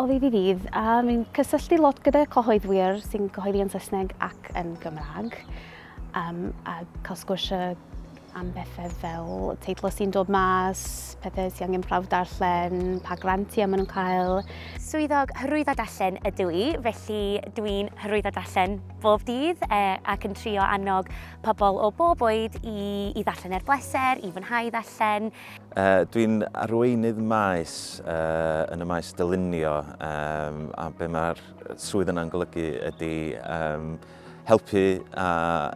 o ddydd i ddydd a mi'n cysylltu lot gyda cyhoeddwyr sy'n cyhoeddi yn Saesneg ac yn Gymraeg um, a cael sgwrsio am bethau fel teitlau sy'n dod mas, pethau sy'n angen prawf darllen, pa grantiau maen nhw'n cael. Swyddog hyrwyddo darllen ydw i, felly dwi'n hyrwyddo darllen bob dydd e, ac yn trio annog pobl o bob oed i, i ddarllen er bleser, i fwynhau ddarllen. Uh, dwi'n arweinydd maes uh, yn y maes dylunio um, a be mae'r swydd yna'n golygu ydy um, helpu a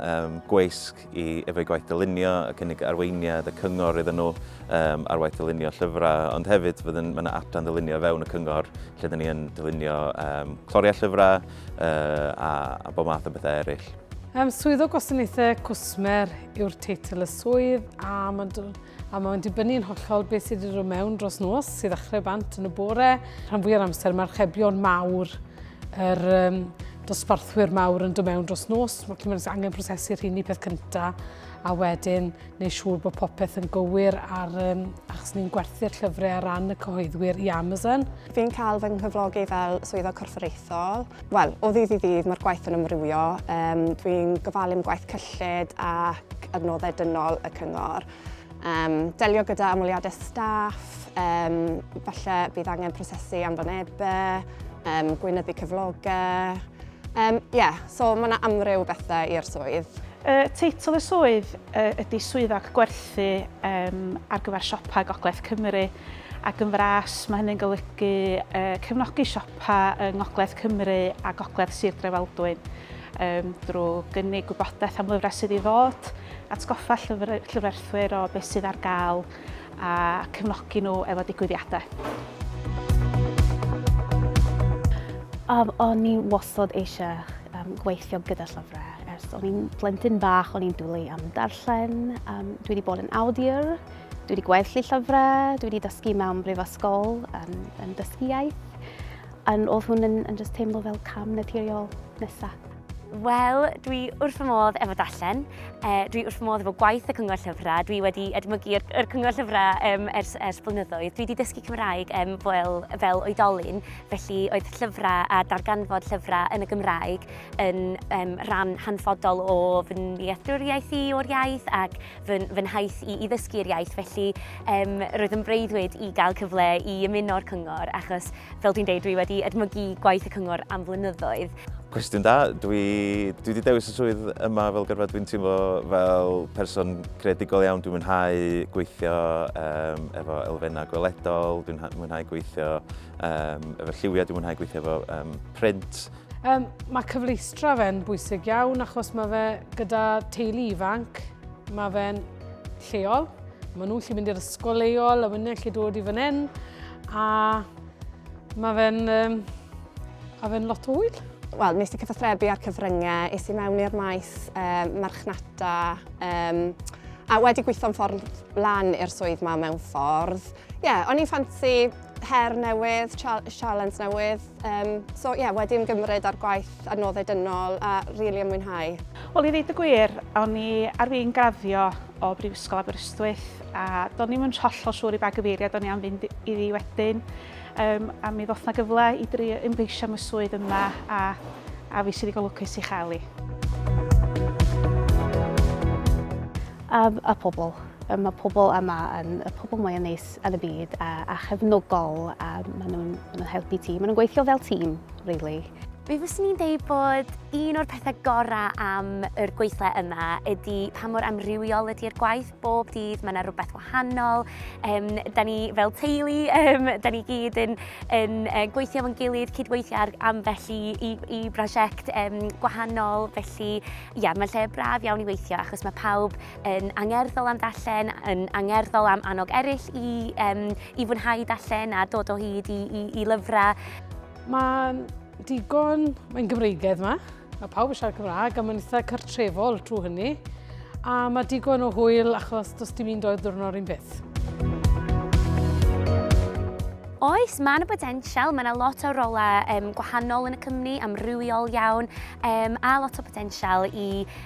um, gweisg i efo'i gwaith dylunio, y cynnig arweiniad, y cyngor iddyn nhw um, ar waith dylunio llyfrau, ond hefyd fydd yn, yna adran dylunio fewn y cyngor lle dyn ni'n dylunio um, cloriau llyfrau uh, a, a bob math o bethau eraill. Um, swydd o gwasanaethau cwsmer yw'r teitl y swydd a mae'n a mae'n dibynnu yn hollol beth sydd wedi dod mewn dros nos, sydd ddechrau bant yn y bore. Rhan fwy o'r amser mae'r rhebion mawr, yr um, dosbarthwyr mawr yn dod mewn dros nos, mae cymryd angen prosesu rhini peth cyntaf, a wedyn neu siŵr bod popeth yn gywir ar, um, achos ni'n gwerthu'r llyfrau ar ran y cyhoeddwyr i Amazon. Fi'n cael fy nghyflogi fel swyddog corfforaethol Wel, o ddydd i ddydd mae'r gwaith yn ymrywio. Um, Dwi'n gofalu am gwaith cyllid ac adnoddau dynol y cyngor. Um, delio gyda amwliadau staff, um, falle bydd angen prosesu anfonebau, um, gweinyddu cyflogau. Um, yeah, so mae yna amryw bethau i'r swydd. Y teitl y swydd ydy swyddog gwerthu um, ar gyfer siopau Gogledd Cymru ac yn fras mae hynny'n golygu uh, cefnogi siopau pa yng Ngogledd Cymru a Gogledd Sir Drefaldwyn, um, drwy gynnig gwybodaeth am lyfrau sydd i ddod, atgoffa llyfr, llyfrerthwyr o beth sydd ar gael a cefnogi nhw efo digwyddiadau. Um, o'n i wastad eisiau um, gweithio gyda llyfrau. Ers o'n i'n plentyn bach, o'n i'n dwlu am darllen. Um, dwi wedi bod yn awdur, Dwi wedi gweddu llyfrau, dwi wedi dysgu mewn brifysgol yn, yn dysgu iaith. Yn, oedd hwn yn, yn just teimlo fel cam naturiol nesaf. Wel, dwi wrth fy modd efo dallen, e, dwi wrth fy modd efo gwaith y cyngor llyfrau, dwi wedi edmygu yr, yr cyngor llyfrau um, ers, ers blynyddoedd. Dwi wedi dysgu Cymraeg um, fel, fel oedolyn, felly oedd llyfrau a darganfod llyfrau yn y Gymraeg yn um, rhan hanfodol o fy nealltwriaeth i o'r iaith ac fy, fy nhaith i, i ddysgu'r iaith, felly um, roedd yn breuddwyd i gael cyfle i ymuno'r cyngor, achos fel dwi'n dweud, dwi wedi edmygu gwaith y cyngor am flynyddoedd. Cwestiwn da, dwi, dwi wedi dewis y swydd yma fel gyrfa, dwi'n teimlo fel person creadigol iawn, dwi'n mwynhau gweithio um, efo elfennau gweledol, dwi'n mwynhau gweithio um, efo lliwiau, dwi'n mwynhau gweithio efo um, print, Um, mae cyfleustra fe'n bwysig iawn achos mae fe gyda teulu ifanc, mae fe'n lleol, mae nhw'n lle mynd i'r ysgol leol a wynnau lle dod i fan hyn a mae fe'n um, a fe'n lot o hwyl. Wel, nes i cyfathrebu ar cyfryngau, es i mewn i'r maes um, marchnata um, a wedi gweithio'n ffordd lan i'r swydd ma mewn ffordd. Ie, yeah, o'n i'n ffansi her newydd, sialens newydd. Um, so ie, yeah, wedi ymgymryd ar gwaith adnoddau dynol a rili really ymwynhau. Wel, i ddeud y gwir, o'n i ar fi'n graddio o Brifysgol Aberystwyth a do'n i'n mynd hollol siŵr i ba gyfeiriad o'n i am fynd iddi wedyn. Um, a mi ddoth na gyfle i dri ymgeisio am y swydd yma a, a fi sydd wedi golwcus i chael i. Um, a pobl. Um, mae pobl yma yn y pobl mwyaf neis yn y byd a, a chefnogol a maen nhw'n ma nhw helpu ti. Maen nhw'n gweithio fel tîm, really. Mi fyswn i'n deud bod un o'r pethau gorau am yr gweithle yma ydy pa mor amrywiol ydy'r gwaith. Bob dydd mae yna rhywbeth wahanol. Um, da ni fel teulu, um, da ni gyd yn, yn uh, gweithio fo'n gilydd, cydweithio ar ambell i, i, i brosiect um, gwahanol. Felly, ia, mae'n lle braf iawn i weithio achos mae pawb yn angerddol am ddarllen, yn angerddol am annog eraill i, um, i fwynhau darllen a dod o hyd i, i, i lyfrau. Mae'n digon, mae'n Gymreigedd yma, mae pawb yn siarad Cymraeg a mae'n eitha cartrefol trwy hynny. A mae digon o hwyl achos does dim un doedd ddwrnod un beth. Oes, mae yna potensial, mae yna lot o rolau um, gwahanol yn y cymni, amrywiol iawn, um, a lot o potensial i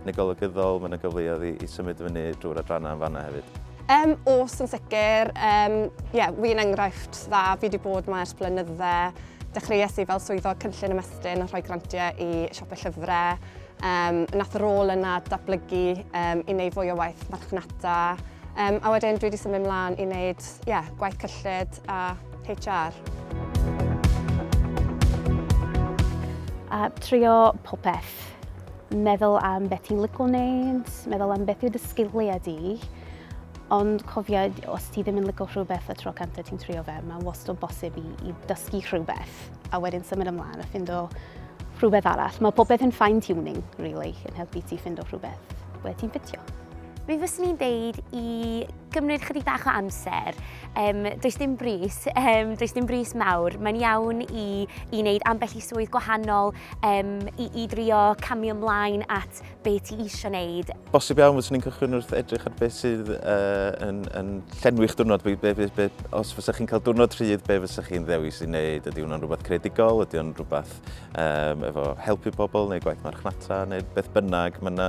Yn y golygyddol, mae yna gyfleoedd i symud fyny drwy'r adrannau yn fanna hefyd. Um, os yn sicr, um, yeah, fi yn enghraifft dda, fi wedi bod mae ers blynydde. Dechreuais i fel swyddog cynllun ymestyn a rhoi grantiau i siopau llyfrau. Um, nath rôl yna datblygu um, i wneud fwy o waith marchnata. Um, a wedyn dwi wedi symud ymlaen i wneud yeah, gwaith cyllid a HR. A trio popeth. Meddwl am beth ti'n lico wneud, meddwl am beth yw dy sgiliau di, ond cofia os ti ddim yn lico rhywbeth y tro canta ti'n trio fe, mae wastad bosib i, i dysgu rhywbeth a wedyn symud ymlaen a ffindo rhywbeth arall. Mae popeth yn fine tuning, really, yn helpu ti ffindo rhywbeth ble ti'n ffitio. Mi fyswn i'n deud i gymryd chydig bach o amser. Um, does dim bris, um, does dim bris mawr. Mae'n iawn i, i wneud ambell i swydd gwahanol, um, i, i drio camio ymlaen at be ti eisiau wneud. Bosib iawn fyswn ni'n cychwyn wrth edrych ar beth sydd uh, yn, yn llenwi'ch diwrnod. Be, be, be, os fysa chi'n cael diwrnod rhydd, be fysa chi'n ddewis i wneud? Ydy hwnna'n rhywbeth credigol? Ydy hwnna'n rhywbeth um, efo helpu pobl neu gwaith marchnata neu beth bynnag? Mae yna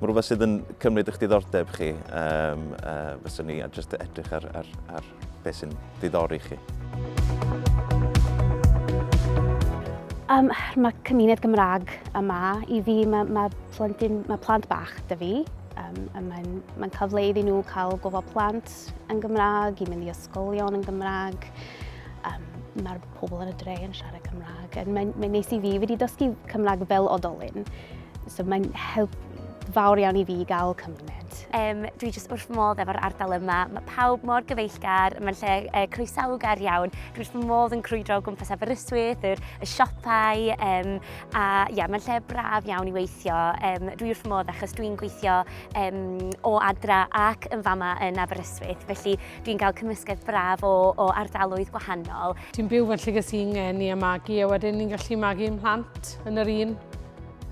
ma rhywbeth sydd yn cymryd eich diddordeb chi. Um, uh, fyswn ni a jyst edrych ar, ar, ar beth sy'n ddiddori chi? Um, mae cymuned Gymraeg yma i fi, mae, mae, plentyn, mae plant bach dy fi. Um, Mae'n mae cael fle iddyn nhw cael gofod plant yn Gymraeg, i mynd i ysgolion yn Gymraeg. Um, Mae'r pobl yn y dre yn siarad Cymraeg. And mae'n mae neis i fi, fi wedi dysgu Cymraeg fel odolyn. So mae'n help fawr iawn i fi gael cymuned. Um, dwi jyst wrth modd efo'r ardal yma. Mae pawb mor gyfeillgar, mae'n lle uh, croesawgar iawn. Dwi wrth modd yn crwydro o gwmpas Aberystwyth, yr, y siopau, um, a ia, mae'n lle braf iawn i weithio. Um, dwi wrth modd achos dwi'n gweithio um, o adra ac yn fama yn Aberystwyth, felly dwi'n cael cymysgedd braf o, o ardaloedd gwahanol. Dwi'n byw fy llygys i'n ngeni a magu, a wedyn ni'n gallu magu yn plant yn yr un,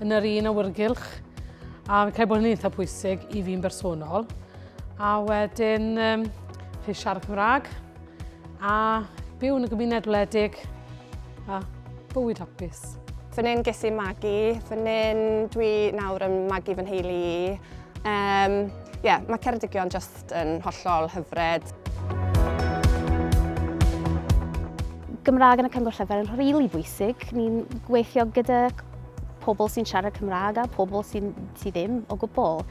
yn yr un awyrgylch. A fi'n cael bod yn eitha pwysig i fi'n bersonol. A wedyn, um, rhaid siarad Cymraeg, A byw yn y gymuned wledig a bywyd hapus. Fy nyn ges i magu, fy nyn dwi nawr yn magu fy nheulu i. Um, yeah, mae Ceredigion just yn hollol hyfred. Gymraeg yn y Cyngor Llyfr yn rili really bwysig. Ni'n gweithio gyda pobl sy'n siarad Cymraeg a pobl sy'n sy ddim o gwbl.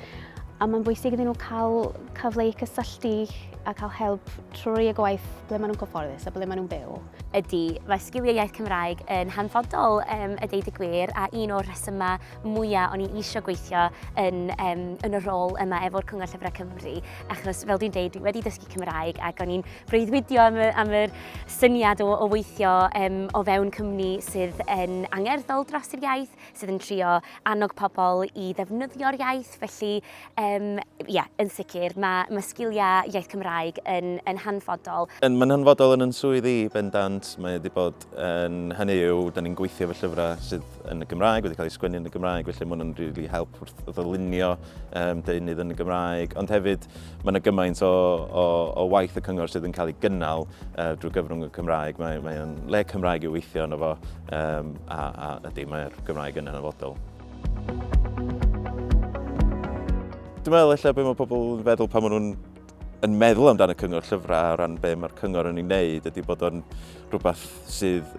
A mae'n bwysig iddyn nhw cael cyfle i cysylltu a cael help trwy y gwaith ble maen nhw'n cyfforddus a ble maen nhw'n byw. Ydy, mae sgiliau iaith Cymraeg yn hanfodol um, y deud y gwir a un o'r rhesymau mwyaf o'n i eisiau gweithio yn, um, yn y rôl yma efo'r Cyngor Llyfrau Cymru achos fel dwi'n deud dwi wedi dysgu Cymraeg ac o'n i'n breuddwydio am, y, am yr syniad o, o weithio um, o fewn cymni sydd yn angerddol dros yr iaith, sydd yn trio annog pobl i ddefnyddio'r iaith felly Yym, ie, yn sicr. Mae, mae sgiliau iaith Cymraeg yn, yn hanfodol. Yn, mae'n hanfodol yn yn swydd i, bendant. Mae wedi bod yn, hynny yw, da ni'n gweithio efo llyfrau sydd yn y Gymraeg, wedi cael eu sgwennu yn y Gymraeg, felly mae hwnna'n rili really help wrth ddylunio um, deunydd yn y Gymraeg. Ond hefyd, mae yna gymaint o, o, o waith y cyngor sydd yn cael ei gynnal uh, drwy gyfrwng y Cymraeg. Mae, mae'n le Cymraeg i'w weithio yno fo, um, a, a ydy, mae'r Gymraeg yn hanfodol. Dwi'n meddwl eich bod mae pobl yn feddwl pan maen nhw'n yn meddwl amdano cyngor llyfrau o ran be mae'r cyngor yn ei wneud ydy bod o'n rhywbeth sydd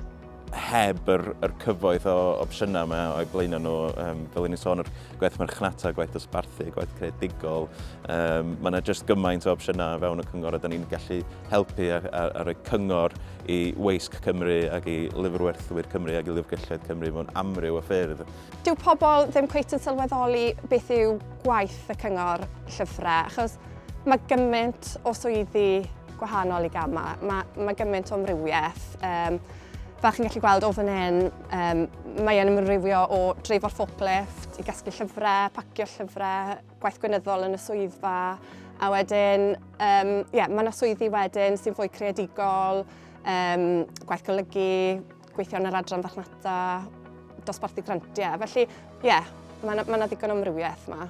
heb yr, yr cyfoeth o opsiynau yma o'i blaenau nhw. Um, fel ni'n sôn, yr gwaith marchnata, gwaith dosbarthu, gwaith creadigol. Um, mae yna jyst gymaint o opsiynau fewn y cyngor a da ni'n gallu helpu a a rhoi cyngor i weisg Cymru ac i lyfrwerthwyr Cymru ac i lyfrgelloedd Cymru mewn amryw o ffyrdd. Dyw pobl ddim cweit yn sylweddoli beth yw gwaith y cyngor llyfrau achos mae gymaint o swyddi gwahanol i gama, mae, mae gymaint o amrywiaeth. Um, fel chi'n gallu gweld o fan hyn, um, mae'n ymrywio o dreifo forklift i gasglu llyfrau, pacio llyfrau, gwaith gwynyddol yn y swyddfa a wedyn um, yeah, mae yna swyddi wedyn sy'n fwy creadigol, um, gwaith golygu, gweithio yn yr adran farchnata, dosbarthu grantiau. Felly, ie, yeah, mae yna ma ddigon o amrywiaeth yma.